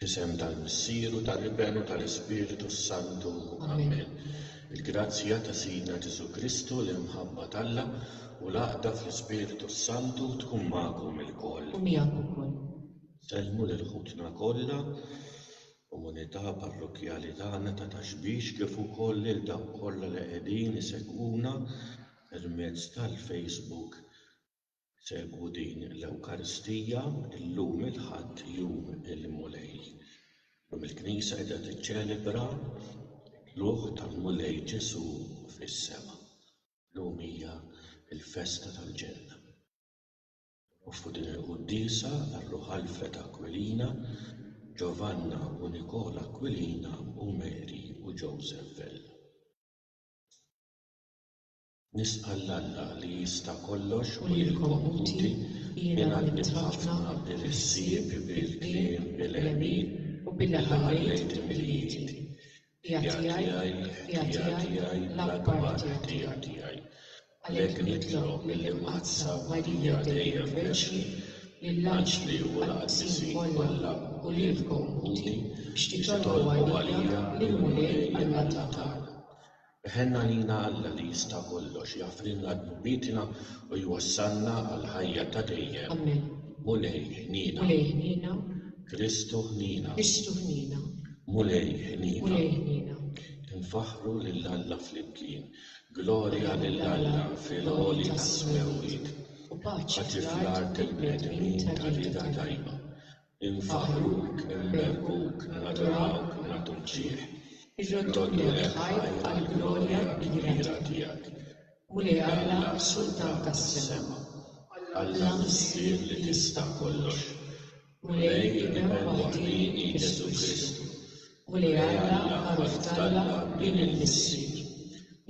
F'isem tal-Missier u tal-Iben u tal-Ispirtu s-Santu. Amen. Il-grazzja ta' Sidna Ġesù Kristu, l-imħabba t'Alla, u l-għaqda fl-Ispirtu s-Santu tkun magħkom ilkoll. U miegħek ukoll. Sellmu lil ħutna kollha, komunità parrokkjali tagħna ta' Ta' Xbiex, kif ukoll lil dawk kollha li qegħdin isegwuna permezz tal-Facebook. Segwu din l-Ewkaristija llum il-Ħadd Jum il-Mulej. Illum il-Knisja qiegħda tiċċelebra t-tlugħ tal-Mulej Ġesù fis-sema. Illum hija l-festa tal-Ġenna. Nofru din il-quddiesa għar-ruħ Alfred Aquilina, Giovanna u Nicola Aquilina u Mary u Joseph Vella. Nisqa' 'l Alla li jista' kollox u lilkom ħuti, jien għallimt ħafna bil-ħsieb, bil-kliem, bil-għemil, u billi ħallejt il-milied. Ħtija tiegħi, ħtija tiegħi, l-akbar ħtija tiegħi. Għalhekk nitlob mill-Imqaddsa Marija Dei Verċni, lill-anġli u l-qaddisin kollha u lilkom ħuti biex titolbu għalija lill-Mulej għall-għatja tagħna. Ħenn għalina Alla li jista' kollox jaħfrilna dnubietna u jwassalna għall-ħajja ta' dejjem. Ammen. Mulej ħniena. Mulej ħniena. Kristu ħniena. Kristu ħniena. Mulej ħniena. Mulej ħniena. Infaħħru lil Alla flimkien. Glorja lil Alla fil-għoli tas-smewwiet. U paċi fl-art il-bnedmin ta' rieda tajba. Infaħħruk, innebbuk, nadurawk, nagħtu mġiegħ. Irroddulek ħajr għall-glorja kbira tiegħek, Mulej Alla, Sultan tas-sema, Alla Missier li tista' kollox, Mulej, Ibn waħdieni Ġesù Kristu, U li Alla magħruf t'Alla minn il-Missier.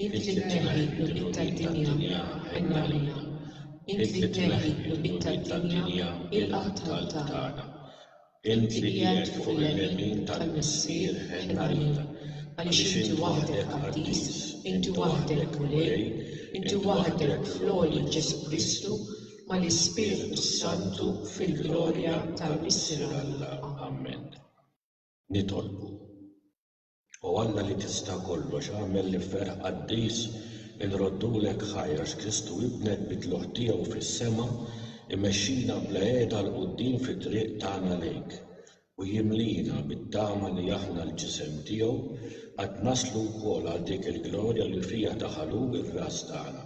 Int li tneħħi l-qlubit tad-dinja, għen għalina. Int li tneħħi l-qlubit tad-dinja, ilqa' t-talb tagħna. Int li qiegħed fuq il-lemin tal-Missier, għen għalina. Għaliex Inti waħdek qaddis, Inti waħdek Mulej, Inti waħdek fl-għoli Ġesù Kristu, mal-Ispirtu s-Santu fil-glorja tal-Missier Alla. Ammen. Nitolbu, O Alla li tista' kollox, agħmel li f'ferħ qaddis inroddulek ħajr għax Kristu Ibnek bi tlugħ tiegħu fis-sema jmexxina bla għeda 'l quddiem fit-triq tagħna lejk u jimliena bit-tama li aħna l-Ġisem tiegħu qed naslu wkoll għal dik il-glorja li fiha daħal hu r-Ras tagħna,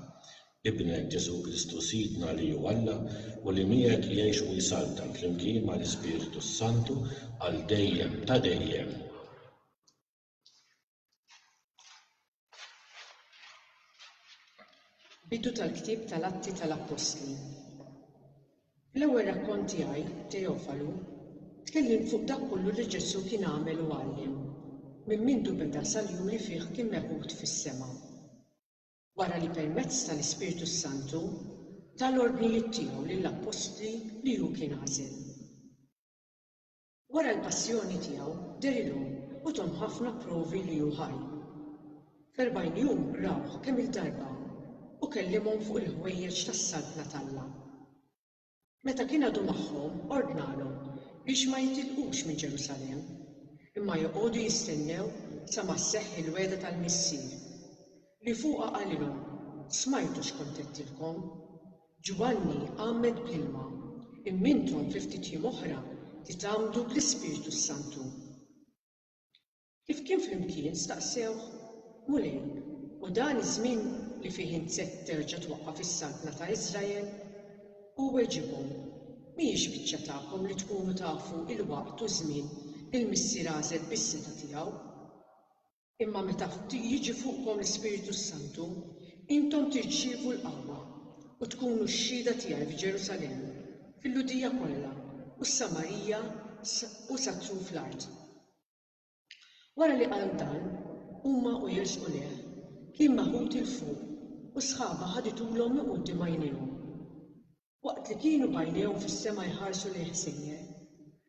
Ibnek Ġesù Kristu Sidna li hu Alla u li miegħek jgħix u jsaltan flimkien mal-Ispirtu s-Santu għal dejjem ta' dejjem. Bidu tal-ktieb tal-Atti tal-Appostli Fl-ewwel rakkont tiegħi, Teofalu, tkellimt fuq dak kollu li Ġesù kien għamel u għallem, minn mindu beda sal-jum li fih kien meħud fis-sema. wara li permezz tal-Ispirtu s-Santu ta l-ordnijiet tiegħu lill-appostli li hu kien għażel. Wara l-passjoni tiegħu derilhom u thom ħafna provi li hu ħaj. F'erbgħin jum rawh kemm-il darba u kellimhom fuq il-ħwejjeġ tas-Saltna t'Alla. Meta kien għadu magħhom, ordnalhom biex ma jitilqux minn Ġerusalemm, imma joqogħdu jistennew sa ma sseħħ il-wegħda tal-Missier, li fuqha qalilhom, Smajtu x'kont għedtilkom, 'Ġwanni għammed bl-ilma, imma intom fi ftit jiem oħra titgħammdu bl-Ispirtu s-Santu. Kif kien flimkien, staqsewh, Mulej, hu dan iż-żmien li fih int se terġa' twaqqaf is-Saltna ta' Iżrael? Hu weġibhom, Mhijiex biċċa tagħkom li tkunu tafu l-waqt u ż-żmien li l-Missier għażel bis-setgħa tiegħu. Imma meta jiġi fuqkom l-Ispirtu s-Santu, intom tirċievu l-qawwa, u tkunu xhieda tiegħi f'Ġerusalemm, fil-Lhudija kollha, u s-Samarija, u sa truf l-art. Wara li qal dan, huma u jersqu lejh, kien maħud 'il fuq u sħaba ħaditulhom minn quddiem għajnejhom. Waqt li kienu b'għajnejhom fis-sema jħarsu lejn ħsejjer,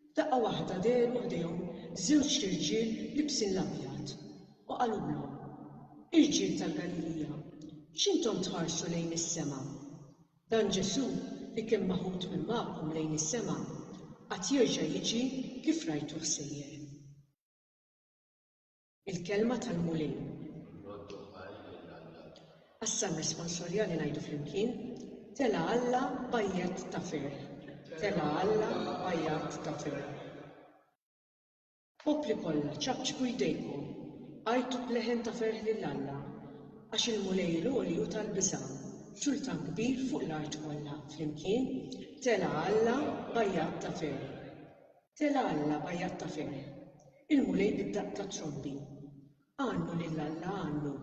f'daqqa waħda dehru ħdejhom żewġt irġiel liebsin l-abjad u qalulhom, Irġiel tal-Galilija, x'intom tħarsu lejn is-sema? Dan Ġesù li kien maħud minn magħkom lejn is-sema, għad jerġa' jiġi kif rajtuh sejjer. Il-Kelma tal-Mulej. Nroddu ħajr lil Alla. Għas-Salm Responsorjali ngħidu flimkien, Telgħa Alla b'għajjat ta' ferħ. Telgħa Alla b'għajjat ta' ferħ. Popli kollha, ċapċpu jdejkom, għajtu b'leħen ta' ferħ lil Alla, għax il-Mulej il-Għoli hu tal-biża', sultan kbir fuq l-art kollha. Flimkien, Telgħa Alla b'għajjat ta' ferħ! Telgħa Alla b'għajjat ta' ferħ! Il-Mulej bid-daqq tat-trombi! Għannu lil Alla, għannu!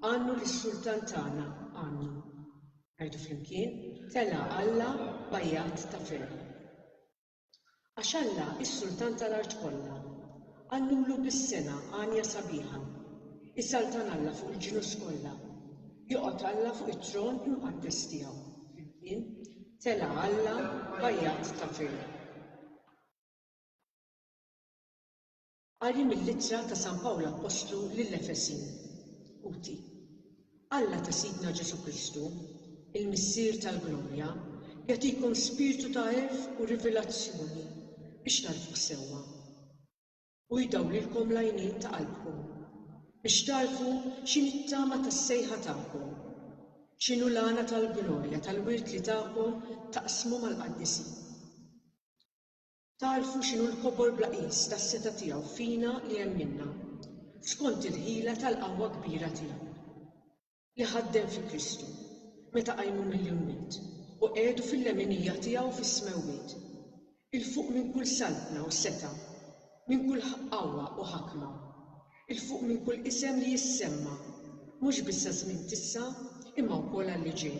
Għannu lis-Sultan tagħna, għannu! Ngħidu flimkien, Telgħa Alla b'għajjat ta' ferħ! Għax Alla hi s-sultan tal-art kollha. Għallulu bis-sengħa għanja sabiħa. Isaltan Alla fuq il-ġnus kollha. Joqgħod Alla fuq it-tron imqaddes tiegħu. Flimkien, Tela' Alla bajjat ta' ferħ. Qari mill-Ittra ta' San Pawl Appostlu lill-Efesin, UT. Alla ta' Sidna Ġesù Kristu, il-Missier tal-glorja, jagħtikom spirtu ta' għerf u rivilazzjoni biex tagħrfuh sewwa. U jdawwlilkom l-għajnejn ta' qalbkom biex tagħrfu x'inhi t-tama tas-sejħa tagħkom, x'inhu l-għana tal-glorja tal-wirt li takom taqsmu mal-qaddisin. Tagħrfu x'inhu l-kobor bla qies tas-setgħa tiegħu fina li għemminna, skont il-ħila tal-qawwa kbira tiegħu, li ħaddem fi Kristu, meta qajmu mill-imwiet, u qiegħdu fil-leminija tiegħu fis-smewwiet, 'il fuq minn kull saltna u setgħa, minn kull qawwa u ħakma, 'il fuq minn kull isem li jissemma, mhux biss għaż-żmien t'issa, imma wkoll għal li ġej.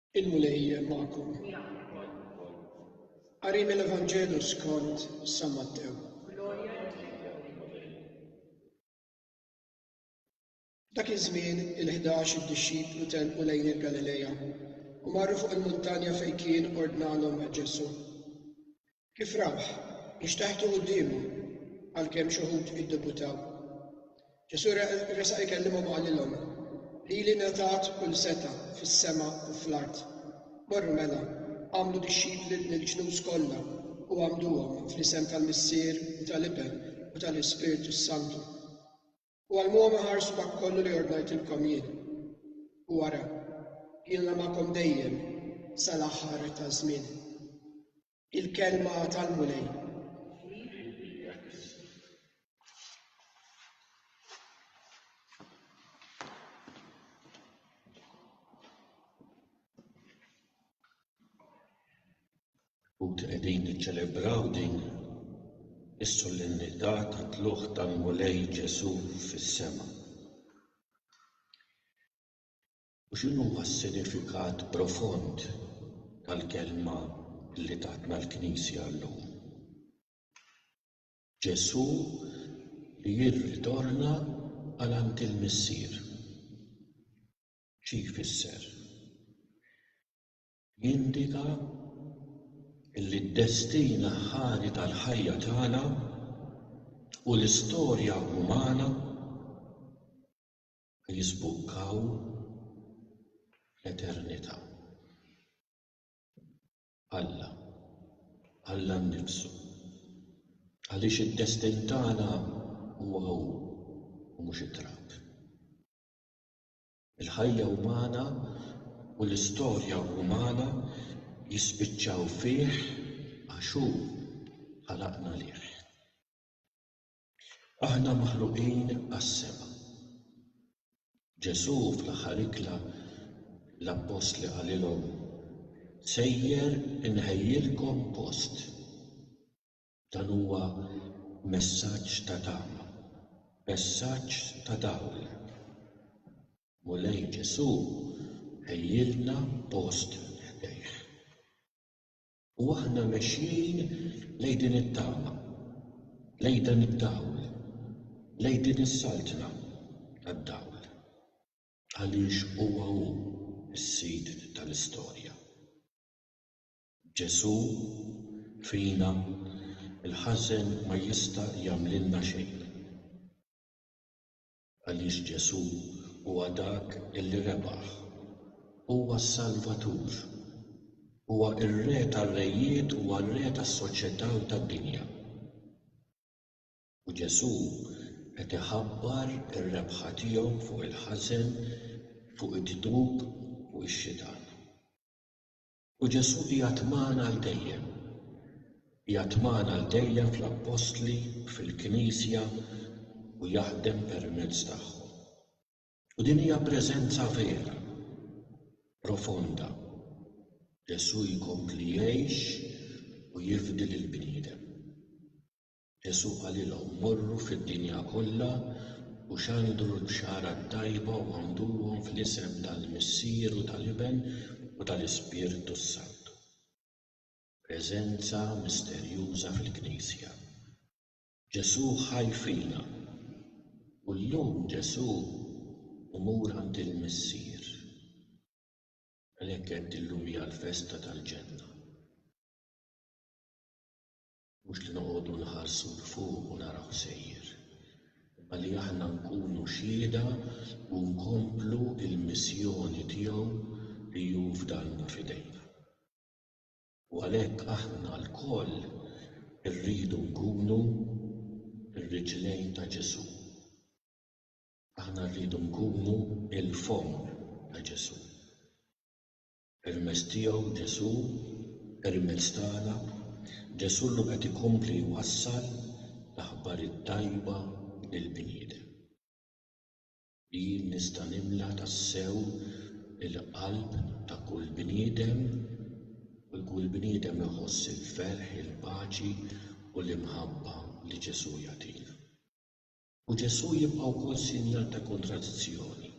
Il-Mulej magħkom. Qari mill-Evanġelu skont San Mattew. Dak iż-żmien il-ħdax id-dixxiplu telqu lejn il-Galilea u marru fuq il-muntanja fejn kien ordnalhom Ġesù. Kif rawh, inxteħtu quddiemu, għalkemm xi wħud iddubutaw. Ġesù resaq ikellimhom u qalilhom, Lili ngħatat kull setgħa fis-sema u fl-art. Morru mela, għamlu dixxipli lill-ġnus kollha u għamduhom fl-isem tal-Missier u tal-Iben u tal-Ispirtu s-Santu. U għallmuhom iħarsu dak kollu li ordnajtilkom jien. U ara, jiena magħkom dejjem sal-aħħar taż-żmien. Il-kelma tal-Mulej. Ħuti qegħdin niċċelebraw din is-solennità tat-tlugħ tal-Mulej Ġesù fis-sema. U x'inhuwa s-sinifikat profond tal-kelma li tatna l-Knisja llum? Ġesù li jirritorna għal għand il-Missier. Xi jfisser? Jindika li d-destin aħħari tal-ħajja tagħna u l-istorja umana jiżbukkaw fl-eternità. Alla, Alla nnifsu. Għaliex id-destin tagħna huwa hu u mhux it-trab. Il-ħajja umana u l-istorja umana jispiċċaw fih għax hu ħalaqna lih. Aħna maħluqin għas-sema. Ġesù fl-aħħar ikla l-appostli qalilhom, Sejjer inħejjilkom post. Dan huwa messaġġ ta' tama, messaġġ ta' dawl. Mulej Ġesù ħejjielna post ħdejh. U aħna mexjin lejn din it-tama, lejn dan id-dawl, lejn din is-saltna tad-dawl. Għaliex huwa hu s-Sid tal-istorja. Ġesù, fina, il-ħażen ma jista' jagħmlilna xejn. Għaliex Ġesù huwa dak li rebaħ. Huwa s-Salvatur. Huwa r-Re tar-rejiet, huwa r-Re tas-soċjetà u tad-dinja. U Ġesù qed iħabbar ir-rebħa tiegħu fuq il-ħażen, fuq id-dnub, fuq ix-xitan. U Ġesù qiegħed magħna għal dejjem. Qiegħed magħna għal dejjem fl-appostli, fil-Knisja u jaħdem permezz tagħhom. U din hija preżenza vera, profonda. Ġesù jkompli jgħix u jifdi lill-bniedem. Ġesù qalilhom, Morru fid-dinja kollha u xandru l-Bxara t-tajba u għammduhom fl-isem tal-Missier u tal-Iben u tal-Ispirtu s-Santu. Preżenza misterjuża fil-Knisja. Ġesù ħaj fina. U llum Ġesù hu mur għand il-Missier. Għalhekk għedt illum hija l-festa tal-ġenna. Mhux li noqogħdu nħarsu 'l fuq u naraw sejjer, imma li aħna nkunu xhieda u nkomplu l-missjoni tiegħu li hu fdalna f'idejna. U għalhekk aħna lkoll irridu nkunu r-riġlejn ta' Ġesù. Aħna rridu nkunu l-fomm ta' Ġesù. Permezz tiegħu, Ġesù, permezz tagħna, Ġesù llum qed ikompli jwassal l-aħbar it-tajba lill-bniedem. Jien nista' nimla tassew il-qalb ta' kull bniedem u kull bniedem iħoss il-ferħ, il-paċi u l-imħabba li Ġesù jagħtina. U Ġesù jibqa' wkoll sinjal ta' kontradizzjoni.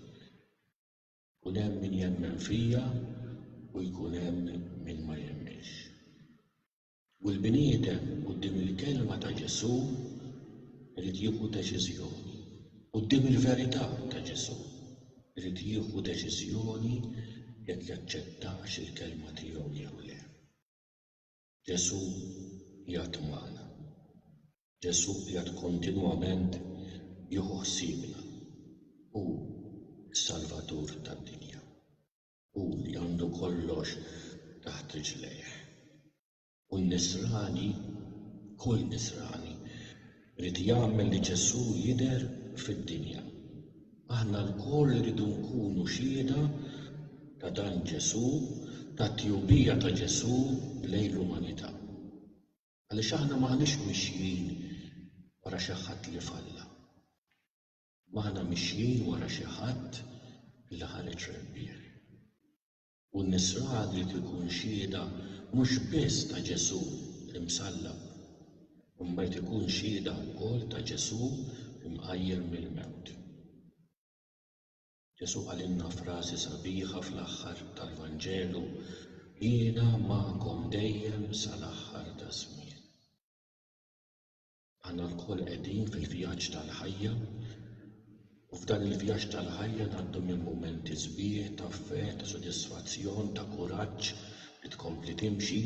Jkun hemm min jemmen fija u jkun hemm min ma jemminx. U l-bniedem quddiem il-kelma ta' Ġesù irid jieħu deċiżjoni. Quddiem il-verità ta' Ġesù irid jieħu deċiżjoni jekk jaċċettax il-kelma tiegħu jew le. Ġesù qiegħed magħna. Ġesù qiegħed kontinwament jieħu ħsiebna. Hu s-Salvatur tad-dinja. Hu li għandu kollox taħt riġlejh. U n-Nisrani, kull Nisrani, Ried jagħmel li Ġesù jidher fid-dinja. Aħna lkoll irridu nkunu xhieda ta' dan Ġesù, tat-tjubija ta' Ġesù lejn l-umanità. Għaliex aħna m'aħniex mixjin wara xi ħadd li falla. M'aħna mixjin wara xi ħadd li ħareġ rebbieħ. U n-Nisrani jrid ikun xhieda mhux biss ta' Ġesù l-Imsallab, imma jrid ikun xhieda wkoll ta' Ġesù mqajjem mill-mewt. Ġesù qalilna frażi sabiħa fl-aħħar tal-Vanġelu, Jiena magħkom dejjem sal-aħħar taż-żmien. Aħna lkoll qegħdin fil-vjaġġ tal-ħajja u f'dan il-vjaġġ tal-ħajja ngħaddu minn mumenti sbieħ ta' fe, ta' sodisfazzjon, ta' kuraġġ li tkompli timxi,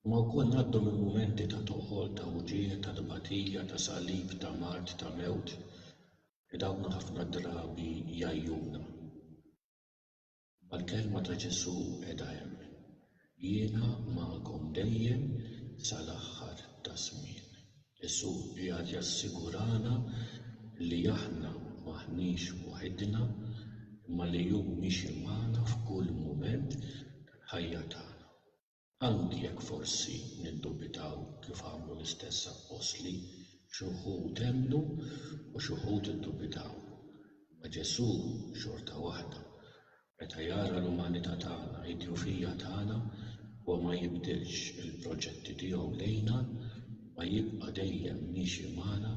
imma wkoll ngħaddu minn mumenti ta' toqol, ta' wġigħ, ta' tbatija, ta' salib, ta' mard, ta' mewt, li dawn ħafna drabi jgħajjuna. Mal-kelma ta' Ġesù qiegħda hemm, Jiena magħkom dejjem sal-aħħar taż-żmien. Ġesù qiegħed jassigurana li aħna m'aħniex waħidna, imma li hu miexi magħna f'kull mument tal-ħajja tagħna. Anki jekk forsi niddubitaw kif għamlu l-istess appostli, xi wħud emmnu u xi wħud iddubitaw. Imma Ġesù xorta waħda, meta jara l-umanità tagħna, id-djufija tagħna, huwa ma jibdilx il-proġetti tiegħu lejna, imma jibqa' dejjem miexi magħna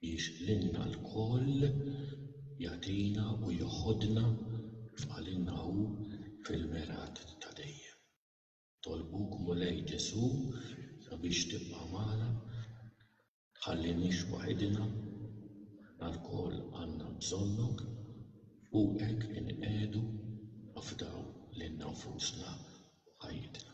biex lilna lkoll jagħtina u jeħodna, kif qalilna hu, fil-mergħat ta' dejjem. Nitolbuk Mulej Ġesu sabiex tibqa' magħna, tħalliniex waħidna, aħna lkoll għandna bżonnok, fuqek inqiegħdu nafdaw lilna nfusna u ħajjitna.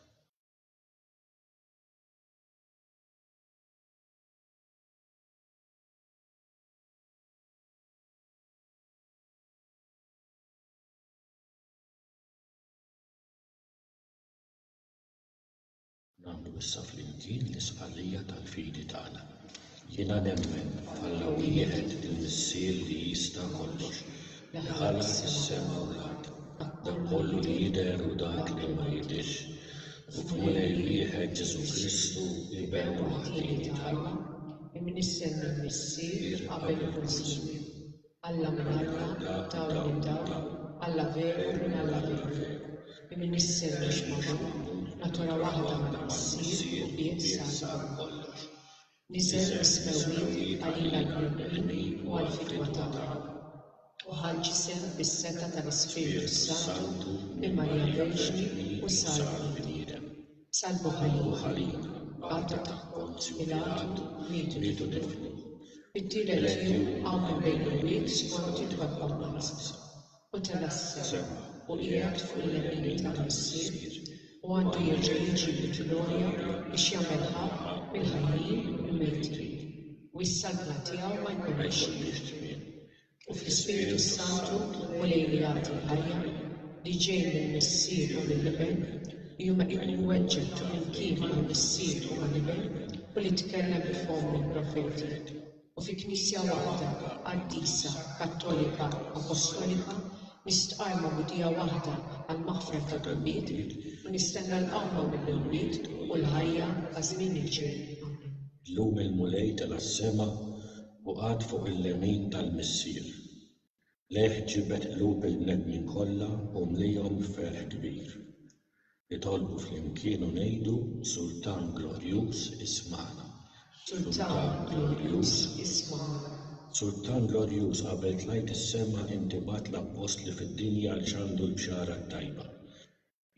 Nagħmlu issa flimkien l-istqarrija tal-fidi tagħna. Jiena nemmen f'Alla wieħed il-Missier li jista' kollox, li ħalaq is-sema u l-art, dak kollu li jidher u dak li ma jidhirx, u f'Mulej wieħed Ġesù Kristu, Iben waħdieni t'Alla, imnissen mill-Missier qabel kull żmien. Alla minn Alla, Dawl minn Dawl, Alla veru minn Alla veru, Imien isser mhux magħmul, Natura waħda ma tqis ssir u bdiet sar kollox. Niżel is-smewwiet għalina l-bnedmin u għall-fidwa tagħna, u ħa l-ġisem bis-setgħa tal-Ispirtu s-Santu minn Marija Verġni u sar bniedem. Sal-Buħari, għada ta' Ponzju Pilatu, mietu tiflu. Fit-tielet jum qamu l-bejniwiet skont it-twebbgħa mqaddsa, u tela' s-sema, u qiegħed fuq il-lemin tal-Missier, u għandu jerġa' jiġi bil-glorja biex jagħmel ħaqq mill-ħajjin u l-mejtin, u s-saltna tiegħu ma jkollhiex tmiem. u fl-Ispirtu s-Santu u lejn l-għati l-ħajja li ġej mill-Missier u mill-Iben, li hu meqjun iweġġeb flimkien mal-Missier u mal-Iben u li tkellem bi fomm il-profeti, u fi Knisja waħda qaddisa, kattolika, apostolika, nistqarrma mudija waħda għall-maħfra tad-dnubiet, u nistenna l-qawma mill-imwiet u l-ħajja għaż-żmien li ġej. Amen. Illum il-Mulej tela' s-sema u qagħad fuq il-lemin tal-Missier. Lejh ġibed qlub il-bnedmin kollha u mliehom b'ferħ kbir. Nitolbu flimkien u ngħidu, Sultan glorjuż, ismagħna. Sultan glorjuż, ismagħna. Sultan glorjuż, qabel tlajt is-sema inti bgħatt l-appostli fid-dinja għal x'għandu l-Bxara t-Tajba.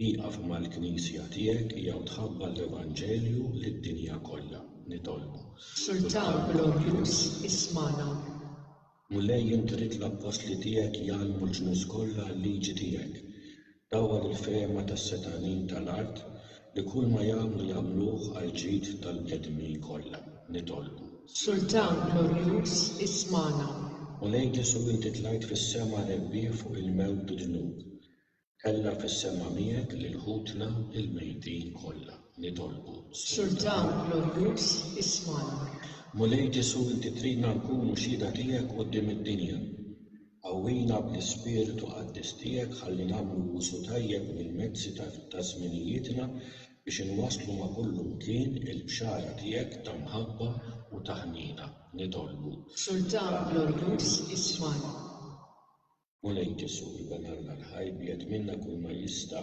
Ieqaf mal-Knisja tiegħek jew tħabbar l-Evanġelju lid-dinja kollha. Nitolbu. Sultan glorjuż, ismagħna. Mulej int ridt l-Appostli tiegħek jgħallmu l-ġnus kollha l-liġi tiegħek. Dawwal il-fehma tas-setgħanin tal-art li kull ma jagħmlu jagħmluh għall-ġid tal-bnedmin kollha. Nitolbu. Sultan glorjuż, ismagħna. Mulej Ġesù inti tlajt fis-sema rebbieħ fuq il-mewt bid-dnub. Tella' fis-sema miegħek lil ħutna l-mejtin kollha, nitolbu. Sultan glorjuż, ismagħna. Mulej Ġesù, inti tridna nkunu xhieda tiegħek quddiem id-dinja. Qawwina bl-ispirtu qaddis tiegħek ħalli nagħmlu użu tajjeb mill-mezzi ta' żminijietna biex inwasslu ma' kullimkien il-bxara tiegħek ta' mħabba u ta' ħniena, nitolbu. Sultan glorjuż, ismagħna. Mulej Ġesù ibanarna l-ħajr bi qed minna kull ma jista'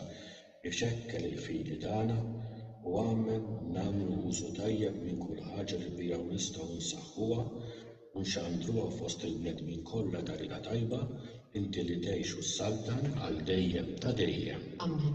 ixekkel il-fidi tagħna u għammen nagħmlu użu tajjeb minn kull ħaġa li biha nistgħu nsaħħuha u nxandruha fost il-bnedmin kollha ta' rieda tajba, Inti li tgħix u ssaltan għal dejjem ta' dejjem. Ammen.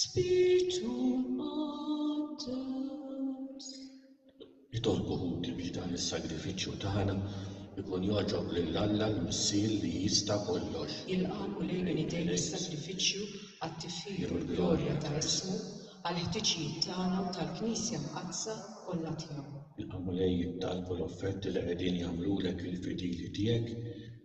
Spirtu Qudus. Nitolbu ħuti biex dan is-sagrifiċċju tagħna jkun jogħġob lil Alla l-Missier li jista' kollox. Jilqagħu lejn idejh is-sagrifiċċju għat-tifħir u l-glorja ta' ismu, għall-ħtiġijiet tagħna u tal-Knisja Mqaddsa kollha tiegħu. Jilqagħu lejh it-talb u l-offerti li qegħdin jagħmlulek il-fidili tiegħek.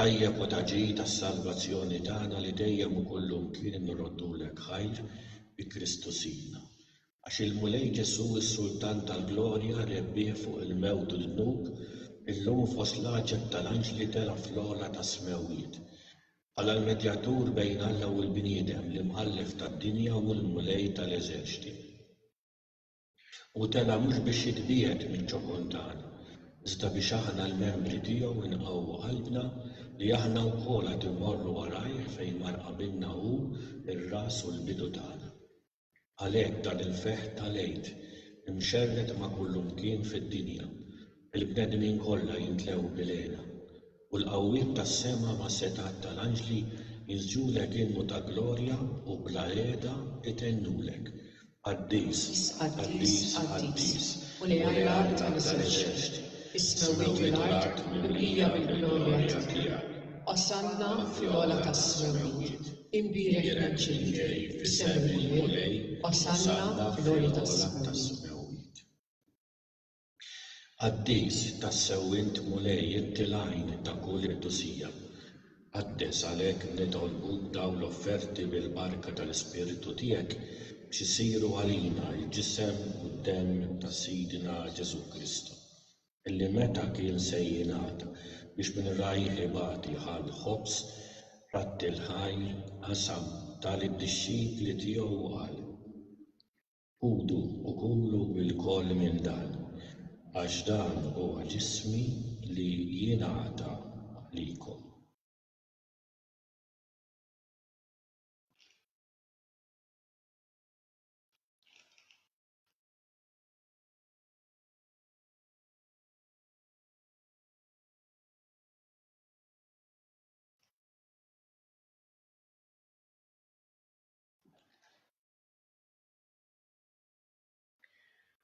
Tajjeb u ta' ġid għas-salvazzjoni tagħna li dejjem u kullimkien nroddulek ħajr bi Kristu Sidna. Għax il-Mulej Ġesù, is-Sultan tal-glorja, rebbieħ fuq il-mewt u d-dnub, illum fost l-għaġeb tal-anġli tela' fl-ogħla tas-smewwiet, bħala l-medjatur bejn Alla u l-bniedem, l-Imħallef tad-dinja u l-Mulej tal-eżerċti. Hu tela' mhux biex jitbiegħed minn Ċokontan, iżda biex aħna l-membri tiegħu nqawwu qalbna li aħna wkoll għad immorru warajh fejn mar qabilna hu, ir-ras u l-bidu tagħna. Għalhekk dan il-ferħ tal-Għid, imxerred ma' kullumkien fid-dinja, Il-bnedmin kollha jimtlew bil-għena, u l-qawwiet tas-sema mas-setgħat tal-anġli jinsġulek innu ta' glorja u bla qiegħda itennulek, Qaddis, qaddis, qaddis, Mulej Alla tal-eżerċti, is-smewwiet u l-art mimlija mill-glorja tiegħek. Osanna fl-ogħla tas-smewwiet! Imbierek min ġej f'isem il-Mulej! Osanna fl-ogħla tas-smewwiet! Qaddis, tassew int Mulej inti l-għajn ta' kull qdusija. Qaddes għalhekk nitolbuk dawn l-offerti bil-barka tal-Ispirtu tiegħek biex isiru għalina l-ġisem u d-demm ta' Sidna Ġesù Kristu, illi meta kien se jingħata biex minn rajh ibati ħa l-ħobż, ratti l-ħajr, qasam, ta lid-dixxipli tiegħu u qal. Ħudu u kulu lkoll minn dan, għax dan huwa ġismi li jingħata għalikom.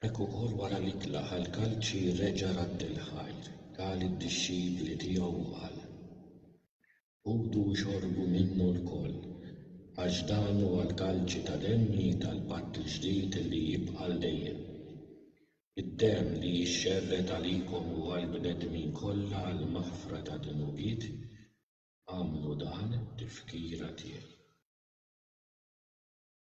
Hekk ukoll wara li tlaqa' l-kalċi reġa' radd il-ħajr, ta lid-dixxipli tiegħu u qal, Ħudu u xorbu minnu lkoll, għax dan huwa l-kalċi ta' demmi tal-patt il-ġdid li jibqa' għal dejjem, id-demm li jixxerred għalikom u għall-bnedmin kollha għall-maħfra tad-dnubiet, agħmlu dan tifkira tiegħi.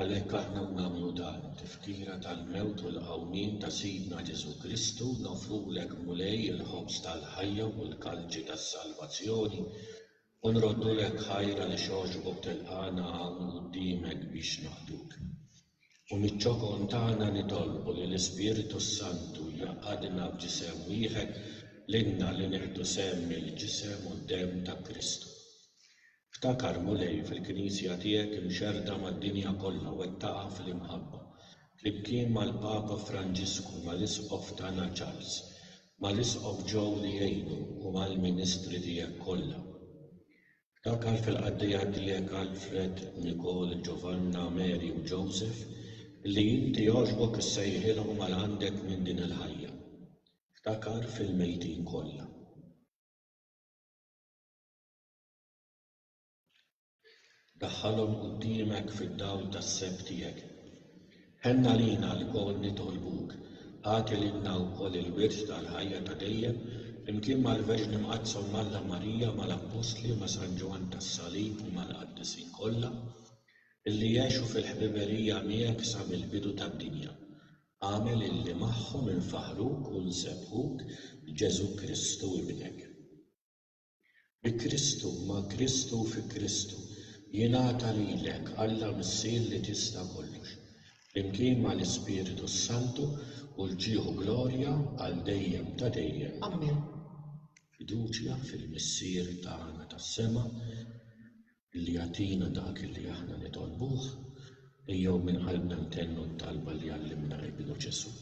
Għalhekk aħna u nagħmlu dan, tifkira tal-mewt u l-qawmien ta' Sidna Ġesù Kristu, noffrulek, Mulej, il-ħobż tal-ħajja u l-kalċi tas-salvazzjoni, u nroddu lek ħajr għaliex għoxbok tilqagħna hawn quddiemek biex naqduk. U miċ-ċokon tagħna nitolbu li l-Ispirtu s-Santu jgħaqqadna f'ġisem wieħed, lilna li nieħdu sehem mill-ġisem u d-demm ta' Kristu. Ftakar, Mulej, fil-Knisja tiegħek imxerrda mad-dinja kollha wettaqha fl-imħabba, flimkien mal-Papa Franġisku, mal-Isqof tagħna Charles, mal-Isqof Joe li jgħinu u mal-ministri tiegħek kollha. Ftakar fil-qaddejja tiegħek Alfred, Nicole, Giovanna, Mary u Joseph li inti għoġbok issejħilhom għal għandek minn din il-ħajja. Ftakar fil-mejtin kollha. Daħħalhom quddiemek fid-dawl tas-seb tiegħek. Ħenn għalina lkoll nitolbuk, agħti lilna wkoll il-wirt tal-ħajja ta' dejjem, flimkien mal-Verġni Mqaddsa u m'Alla Marija, mal-Appostli, ma' San Ġwann tas-Salib u mal-Qaddisin kollha, illi għexu fil-ħbiberija miegħek sa mill-bidu tad-dinja. Agħmel illi magħhom infaħħruk u nsebbħuk b'Ġesù Kristu Ibnek. Bi Kristu, ma' Kristu u fi Kristu, jingħata lilek, Alla Missier li tista' kollox, flimkien mal-Ispirtu s-Santu, u l-ġieħu glorja għal dejjem ta' dejjem. Ammen. Fiduċja fil-Missier tagħna tas-sema, li jagħtina dak li aħna nitolbuh, ejjew minn qalbna ntennu t-talba li għallimna Ibnu Ġesù,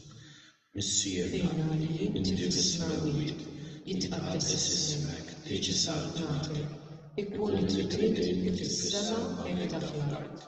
Missierna li inti fis-Smewwiet, jitqaddes ismek, tiġi saltnatek, ikun li trid inti fis-sema hekk da fl-art.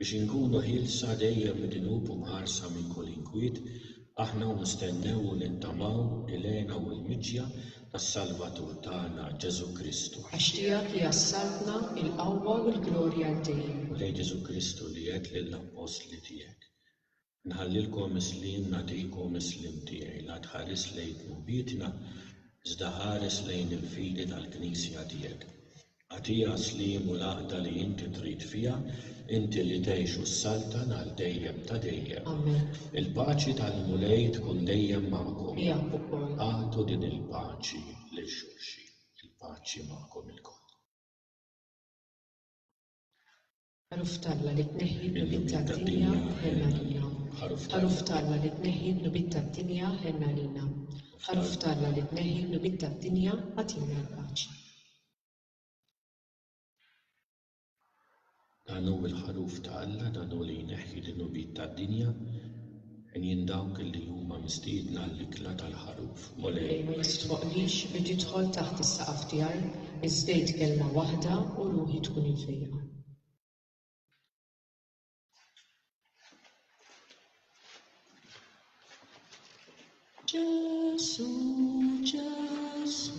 Biex inkunu ħielsa dejjem mid-dnub u mħarsa minn kull inkwiet, aħna nistennew u nittamaw il-hena u l-miġja tas-Salvatur tagħna, Ġesù Kristu. Għax tiegħek hija s-saltna, il-qawwa u l-glorja għal dejjem. Mulej Ġesù Kristu li għedt lill-appostli tiegħek, Nħallilkom is-sliem, nagħtikom is-sliem tiegħi. La tħares lejn dnubietna, iżda ħares lejn il-fidi tal-Knisja tiegħek. Agħtiha s-sliem u l-għaqda li inti trid fiha, inti li tgħix u ssaltan għal dejjem ta' dejjem. Amen. Il-paċi tal-Mulej tkun dejjem magħkom. Miegħek ukoll. Agħtu din il-paċi lil xulxin. Il-paċi magħkom ilkoll. Ħaruf t'Alla li tneħħi d-dnubiet tad-dinja, ħenn għalina. Ħaruf t'Alla li tneħħi d-dnubiet tad-dinja, ħenn għalina. Ħaruf t'Alla li tneħħi d-dnubiet tad-dinja, agħtina l-paċi. Dan hu l-Ħaruf ta' Alla, dan hu li jneħħi d-dnubiet tad-dinja. Għenien dawk li huma mistiedna għall-ikla tal-Ħaruf, Mulej. Ma jistħoqqlix li tidħol taħt is-saqaf tiegħi, iżda għid kelma waħda u ruħi tkun imfejqa. Ġesù, Ġesù.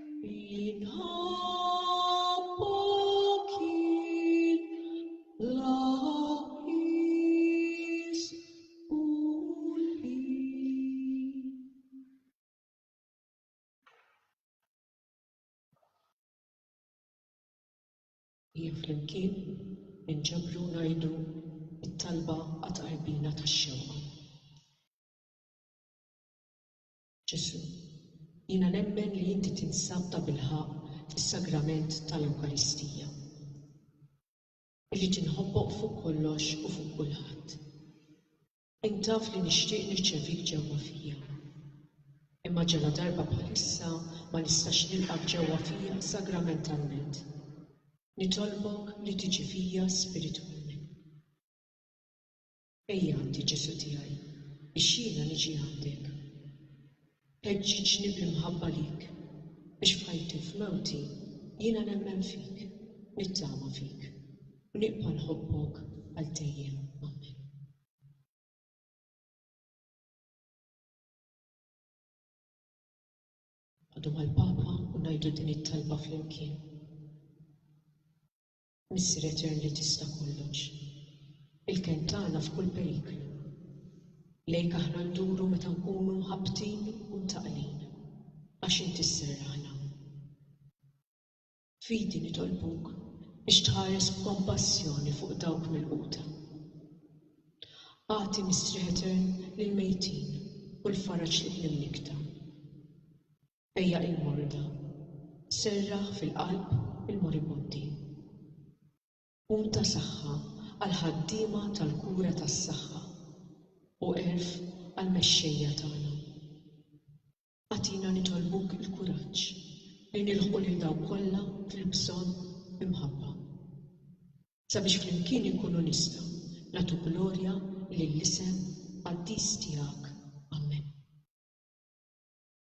Jien flimkien inġabru ngħidu t-talba għat-tqarbina tax-xewqa. Ġesù, jiena nemmen li inti tinsab tabilħaqq fis-Sagrament tal-Ewkaristija. Irrid inħobbok fuq kollox u fuq kulħadd. Int taf li nixtieq nirċevik ġewwa fija. Imma ġaladarba bħalissa ma nistax nilqgħek ġewwa fija sagramentalment. Nitolbok li tiġi fija spiritwalment. Ejja għandi, Ġesù tiegħi, biex jiena niġi għandek. Ħeġġiġni bl-imħabba lik, biex f'ħajti u f'mewti jiena nemmen fik, nittama fik, u nibqa' nħobbok għal dejjem. Amen. Għadu mal-Papa u ngħidu din it-talba flimkien. Missier Etern li tista' kollox, il-kenn tagħna f'kull periklu, lejk aħna nduru meta nkunu mħabbtin u mtaqqlin, għax Inti sserraħna. F'fidi nitolbuk biex tħares b'kompassjoni fuq dawk milquta. Agħti mistrieħ etern lill-mejtin u l-faraġ lill-imnikkta. Ejja il-morda, serraħ fil-qalb il-moribundi. Qum ta' saħħa għall-ħaddiema tal-kura tas-saħħa u għerf għall-mexxejja tagħna. Agħtina nitolbuk il-kuraġġ li nilħqu lil dawk kollha fil-bżonn b'imħabba, sabiex flimkien inkunu nistgħu nagħtu glorja lill-isem qaddis tiegħek. Amen.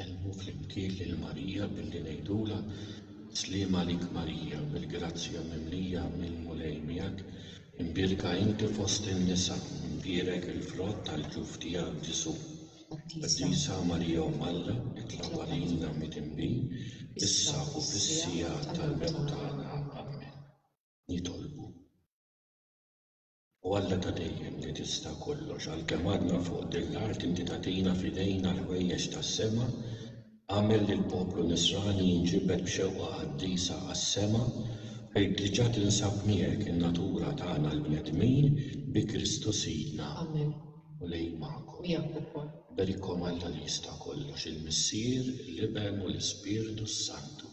Insellmu flimkien lil Marija billi ngħidulha, Sliem għalik Marija, bil-grazzja mimlija, il-Mulej miegħek, imbierka inti fost in-nisa, u mbierek il-frott tal-ġuf tiegħek Ġesù. Qaddisa Marija Omm Alla, itlob għalina midinbin, issa u fis-siegħa tal-mewt tagħna. Ammen. Nitolbu. O Alla ta' dejjem li tista' kollox, għalkemm għadna fuq din l-art inti tagħtina f'idejna l-ħwejjeġ tas-sema, agħmel li l-poplu Nisrani jinġibed b'xewqa qaddisa għas-sema fejn diġà tinsab miegħek in-natura tagħna l-bnedmin bi Kristu Sidna. Amen. U lei magħkom. Miegħek ukoll. Berikom Alla li jista' kollox, il-Missier, l-Iben u l-Ispirtu s-Santu.